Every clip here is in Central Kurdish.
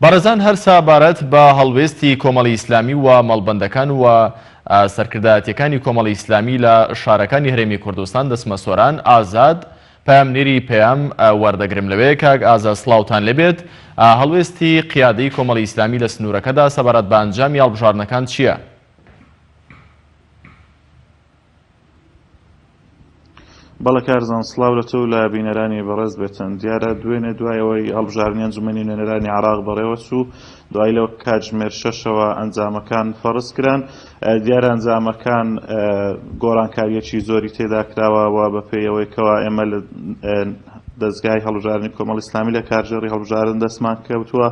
بەڕێزان هەر سەبارەت بە هەڵوێستی کۆمەڵی ئیسلامی و مەڵبەندەکان و سەرکردایەتیەکانی کۆمەڵی ئیسلامی لە شارەکانی هەرێمی کوردستان دەچمە سۆران ئازاد پەیامنێری پەیام وەردەگرم لەوێ کاک ئازاد سڵاوتان لێبێت هەڵوێستی قیادەی کۆمەڵی ئیسلامی لە سنوورەکەدا سەبارەت بە ئەنجامی هەڵبژاردنەکان چییە؟ بەڵێ کارزان سڵاو لە تۆ و لە بینەرانی بەڕێز بێتن دیارە دوێنێ دوای ئەوەی هەڵبژاردنی ئەنجومەنی نوێنەرانی عێراق بەڕێوە چوو دوای لە کاتژمێر شەشەوە ئەنجامەکان فەرز کران دیارە ئەنجامەکان گۆڕانکاریەکی زۆری تێدا کراوە و بەپێیەوەی کەوا ئێمە دەزگای هەڵبژاردنی کۆمەڵی ئیسلامی لە کارگێڕی هەڵبژاردن دەستمان کەوتووە،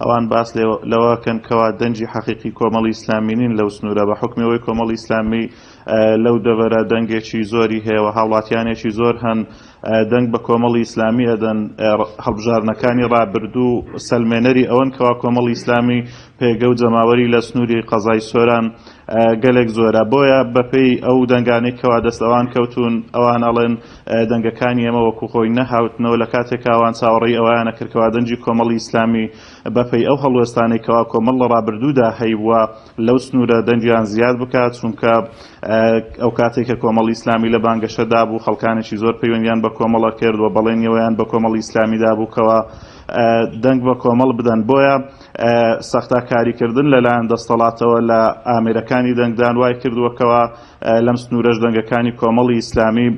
ئەوان باس لەوە ئەکەن کەوا دەنگی حەقیقی کۆمەڵی ئیسلامی نین لەو سنوورە، بە حوکمی ئەوەی کۆمەڵی ئیسلامی لەو دەڤەرە دەنگێکی زۆری هەیە و هاوڵاتیانێکی زۆر هەن دەنگ بە کۆمەڵی ئیسلامی ئەدەن، هەڵبژاردنەکانی ڕابردوو سەلمێنەری ئەوەن کەوا کۆمەڵی ئیسلامی پێگە و جەماوەری لە سنووری قەزای سۆران گەلێک زۆرە، بۆیە بەپێی ئەو دەنگانەی کەوا دەست ئەوان کەوتوون، ئەوان ئەڵێن دەنگەکانی ئێمە وەکو خۆی نەهاوتنەوە، لە کاتێکا ئەوان چاوەڕێی ئەوەیانە کرد کەوا دەنگی کۆمەڵی ئیسلامی بەپێی ئەو هەڵوێستانەی کەوا کۆمەڵ لە ڕابردوودا هەیبووە لەو سنوورە دەنگیان زیاد بکات، چونکە ئەو کاتەی کە کۆمەڵی ئیسلامی لە بانگەشە دابوو خەڵکانێکی زۆر پەیوەندیان بە کۆمەڵە کرد و بەڵێنی ئەوەیان بە کۆمەڵی ئیسلامی دابوو کەوا دەنگ بە کۆمەڵ بدەن، بۆیە. سەختاکاریکردن لەلایەن دەستەڵاتەوە لە ئامێرەکانی دەنگدان وای کردووە کەوا لەم سنوورەش دەنگەکانی کۆمەڵی ئیسلامی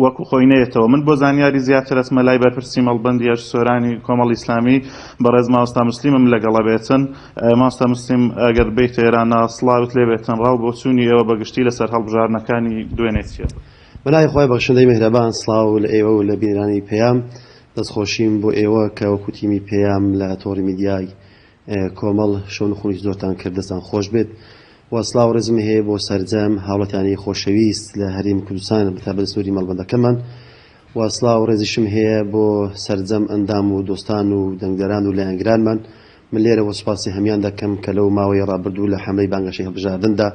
وەکو خۆی نەیەتەوە من بۆ زانیاری زیاتر ئەچمە لای بەرپرسی مەڵبەندی ئەش سۆرانی کۆمەڵی ئیسلامی بەڕێز مامۆستا مسلیمم لەگەڵە بێتن مامۆستا مسلیم ئەگەر بێیتە ئێرانە سڵاوت لێ بێتن ڕا و بۆچوونی ئێوە بە گشتی لەسەر هەڵبژاردنەکانی دوێنێ چییە؟ بەلای خۆی بەخشندەی میهرەبان سڵاو لە ئێوە و لە بینەرانی پەیام دەستخۆشیم بۆ ئێوە کە وەکو تیمی پەیام لە تۆڕی میدیای کۆمەڵ شەو نخونی زۆرتان کرد دەستان خۆش بێت و سڵاو ڕێزمی هەیە بۆ سەرجەم هاوڵاتیانی خۆشەویست لە هەرێمی کوردستان بەتابەت سنوری مەڵبەندەکەمان و سڵاو ڕێزیشم هەیە بۆ سەرجەم ئەندام و دۆستان و دەنگدەران و لایەنگرانمان من لێرەوە سوپاسی هەمیان دەکەم کە لەو ماوەی ڕابردوو لە حەملەی بانگەشەی هەڵبژاردندا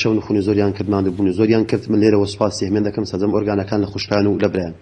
شەو نخونی زۆریان کرد ماندوبون و زۆریان کرد من لێرەوە سوپاسی هەمیان دەکەم سەرجەم ئۆرگانەکان لە خوشکان و لە برایان.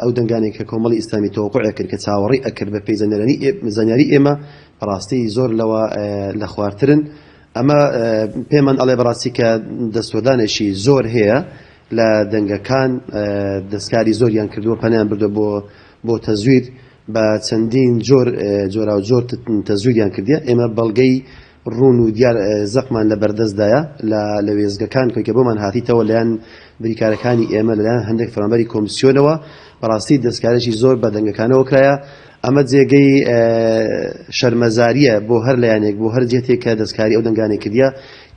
ئەو دەنگانەی کە کۆمەڵی ئیسلامی تەوەقوعی ئەکرد کە چاوەڕێی ئەکرد بە پێی زانیاری ئێمە بەڕاستی زۆر لەوە لە خوارترن ئەمە پێمان ئەڵێ بەڕاستی کە دەستوەردانێکی زۆر هەیە لە دەنگەکان دەستکاری زۆریان کردووە پەنیان بردە بۆ بۆ تەزویر بە چەندین جۆر جۆرا و جۆر تەزویریان کردیە ئێمە بەڵگەی ڕوون و دیار زەقمان لە بەردەستدایە لە وێستگەکان، کەویکە بۆمان هاتیتەوە لەلایەن بریکارەکانی ئێمە لەلایەن هەندێک فەرمانبەری کۆمسیۆنەوە، بەڕاستی دەستکارێکی زۆر بە دەنگەکانەوە کرایە، ئەمە جێگەی شەرمەزاریە بۆ هەر لایەنێک بۆ هەر جێتێک کە دەستکاری ئەو دەنگانەی کردیە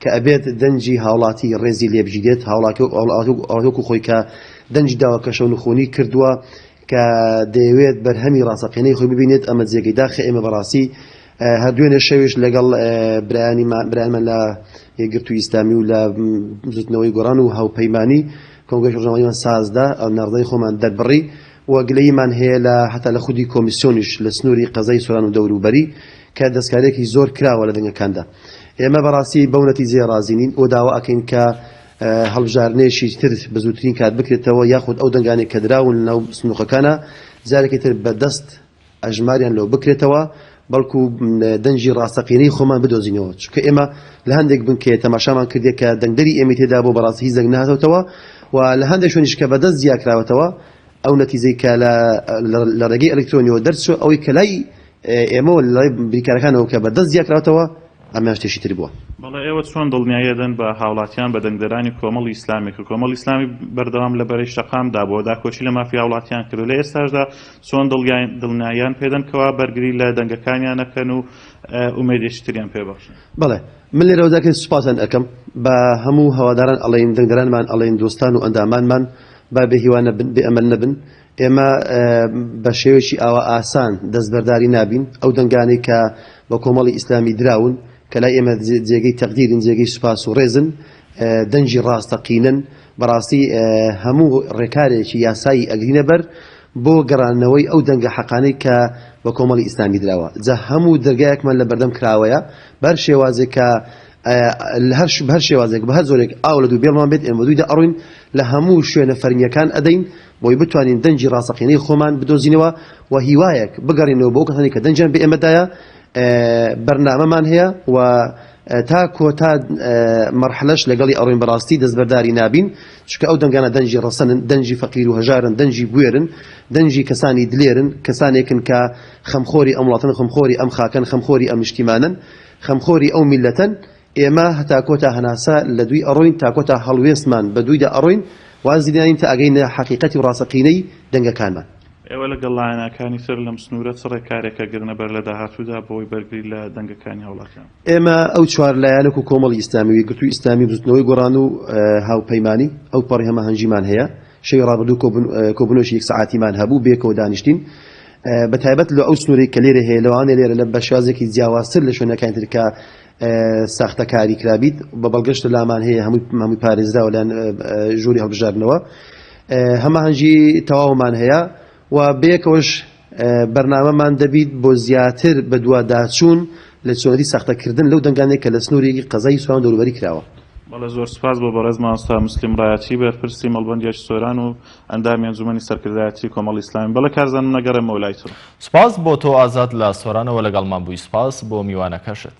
کە ئەبێت دەنگی هاوڵاتی ڕێزی لێبگیرێت هاوڵاتی وەکو خۆی کە دەنگی داوە کەشەونخونی کردوە کە دەیەوێت بەرهەمی ڕاستەقینەی خۆی ببینێت ئەمە جێگەی داخە ئێمە بەڕاستی هەر دوێنێ شەویش لەگەڵ برایانی برایانمان لە یەکگرتوو ئیسلامی و لە بزوتنەوەی گۆران و هاوپەیمانی کۆنگرس ڕژنەوەیمان سازدا ئەو ناردەی خۆمان دەربڕی و گلەیمان هەیە لە هەتا لە خودی کۆمیسیۆنیش لە سنووری قەزای سوران و دەوروبەری کە دەستکارێکی زۆر کراوە لە دەنگەکاندا ئێمە بەڕاستی بەو نەتیجەیە ڕازینین و داوا ئەکەین کە هەڵبژاردنێکی تر بە زووترین کات بکرێتەوە یاخود ئەو دەنگانەی کە دراون لە ناو سندوقەکانا جارێکی تر بە دەست ئەژماریان لۆ بکرێتەوە بەڵکو دەنگی ڕاستەقینەی خۆمان بدۆزینەوە چونکە ئێمە لە هەندێک بنکەیە تەماشامان کردێک کە دەنگدەری ئێمەی تێدا بۆ بەڕاستی هیچ دەنگ نهاتەوتەوە و لە هەندێک شوێنیش کە بەدەست جیاکراوەتەوە ئەو نەتیجەی کە لە ڕێگەی ئەلکترۆنیەوە دەرچووە ئەوەی کە لای ئێمە و لای بریکارەکانەوە کە بە دەست جیا کراوەتەوە ئەمەیان شتێکی تر بووە. بەڵێ ئێوە چۆن دڵنیایی ئەدەن بە هاوڵاتیان بە دەنگدەرانی کۆمەڵی ئیسلامی کە کۆمەڵی ئیسلامی بەردەوام لە بەرەی شەقام دا بووە داکۆکی لە مافی هاوڵاتیان کردوە لە ئێستاشدا چۆن دڵنیاییان پێدەن کەوا بەرگری لە دەنگەکانیان ئەکەن و ئومێدێکی تریان پێ بەخشن؟ بەڵێ من لێرەوە جارێکی سوپاسیان ئەکەم بە هەموو هەواداران ئەڵێین دەنگدەرانمان ئەڵێین دۆستان و ئەندامانمان با بێ هیوا نەبن بێ ئەمەل نەبن، ئێمە بە شێوەیەکی ئاوا ئاسان دەستبەرداری نابین، ئەو دەنگانەی کە بە کۆمەڵی ئیسلامی دراون، کە لای ئێمە جێگەی تەقدیرن، جێگەی سوپاس و ڕێزن، دەنگی ڕاستەقینەن، بەڕاستی هەموو ڕێکارێکی یاسایی ئەگرینە بەر بۆ گەڕاندنەوەی ئەو دەنگە حەقانەی کە بە کۆمەڵی ئیسلامی دراوە، جا هەموو دەرگایەکمان لە بەردەم کراوەیە، بە هەر شێوازێک کە بە هەر شێوازێک بە هەر جۆرێک ئاو لە دوو بێڵمان بێت ئێمە دووی دەئەڕووین، لە هەموو شوێنە فەرمییەکان ئەدەین. بۆی بتوانین دەنگی ڕاستەقینەی خۆمان بدۆزینەوە و هیوایەک بگەڕێینەوە بۆ ئەو کەسانەی کە دەنگیان بە ئێمە دایە بەرنامەمان هەیە و تا کۆتا مەرحلەش لەگەڵی ئەڕۆین بەڕاستی دەستبەرداری نابین چکە ئەو دەنگانە دەنگی ڕەسەنن دەنگی فەقیر و هەژارن دەنگی بوێرن دەنگی کەسانی دلێرن کەسانێکن کە خەمخۆری ئەم وڵاتن خەمخۆری ئەم خاکەن خەمخۆری ئەم نیشتیمانن خەمخۆری ئەو میلەتەن ئێمە هەتا کۆتا هەناسە لە دووی ئەڕۆین تا کۆتا هەڵوێستمان بە دوویدا ئەڕۆین واز لێناین تا ئەگەینە حەقیقەتی و ڕاستەقینەی دەنگەکانمان. ئێوە لەگەڵ لایەناکانی سەر لەم سنوورە چ ڕێکارێک ئەگرنە بەر لە داهاتوودا بەوەی بەرگری لە دەنگەکانی هاوڵاتیان بکەن؟ ئێمە ئەو چوار لایەنە وەکوو کۆمەڵی ئیسلامی و یەکگرتووی ئیسلامی و بزووتنەوەی گۆڕان و هاوپەیمانی ئەوپەڕی هەماهەنگیمان هەیە شەوی ڕابردوو کۆبوون کۆبوونەوەکی یەک سەعاتیمان هەبوو بەیەکەوە دانیشتین بە تایبەت لۆ ئەو سنوورەی کە لێرە هەیە لەوانەیە لێرە لە بە شێوازێکی جیاوازتر لە شوێنەکانی تر کە ساختەکاری کرابیت بە بەڵگەش لە لامان هەیە هەمووی هەمووی پارێزراوە لەن ژووری هەڵبژاردنەوە هەماهەنگی تەواومان هەیە و بەیەکەوەش بەرنامەمان دەبیت بۆ زیاتر بە دوا داچوون لە چۆنەتی ساختەکردن لەو دەنگانێک کە لە سنووریی قەزای سۆران دەوروبەری کراوە. بەڵێ زۆر سوپاس بۆ بەڕێز مامۆستا موسلیم ڕایەچی بەرپرسی مەڵبەندی ئەژ سۆران و ئەندامی ئەنجومەنی سەرکردایەتی کۆمەڵی ئیسلامی بەڵێ کارزان من ئەگەڕێمەوە لای تۆ. سپاس بۆ تۆ ئازاد لە سۆرانەوە لەگەڵمان بووی سپاس بۆ میوانەکەشت.